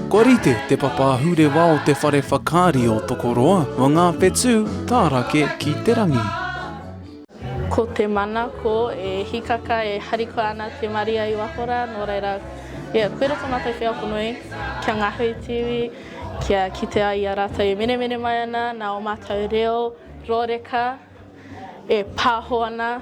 Kua rite te papa hurewa o te whare whakaari o Tokoroa mō ngā whetū tārake ki te rangi. Ko te manako e hikaka e harikoa ana te maria i waho ra, no reira, ia, koe ra to matou wheaponui, kia ngahu i te iwi, kia kite ai i a ratou e menemene mai ana, na o matou reo, roreka. e pāho ana.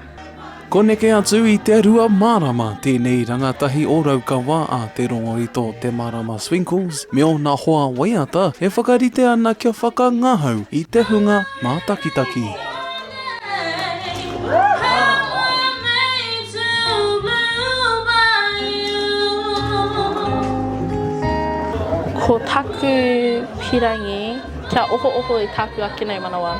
Kua neke atu i te rua marama tēnei rangatahi o Raukawa a Te Rongorito Te Marama Swinkles me ōna hoa waiata e whakarite ana kia whakangahau i te hunga mātakitaki. Ko taku pirangi kia ohooho i taku ake nei manawa.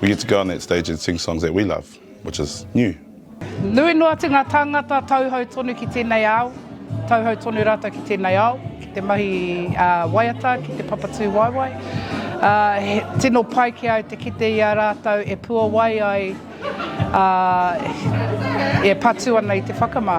We get to go on that stage and sing songs that we love, which is new. Nui noa atu ngā tāngata tauhou tonu ki tēnei ao, tauhou tonu rātou ki tēnei ao, ki te mahi waiata, ki te papatūwaewae. Tino pai ki a au te kite i a rātou e puawai ai, e patu ana i te whakamā.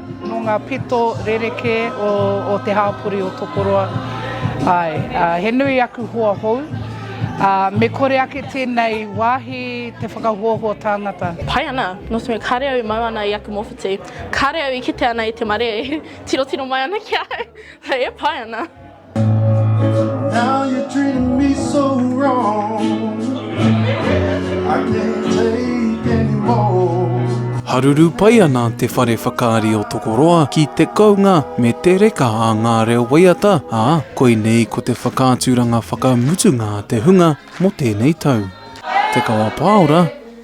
Nō ngā pito rerekē o te hāpori o Tokoroa, āe, he nui aku hoa hou, ā, me kore ake tēnei wāhi te whakahuahua tāngata. Pai ana, nō te mea kāre au e mau ana i aku mōwhiti, kāre au i kite ana i te mare e tirotiro mai ana ki a au, e pai ana. Now you're treating me so wrong. I can't take anymore. Haruru pai ana te whare whakaari o Tokoroa ki te kounga me te reka a ngā reo waiata, ā, koinei ko te whakaaturanga whakamutunga te hunga mō tēnei tau. Te Kawa Pāora,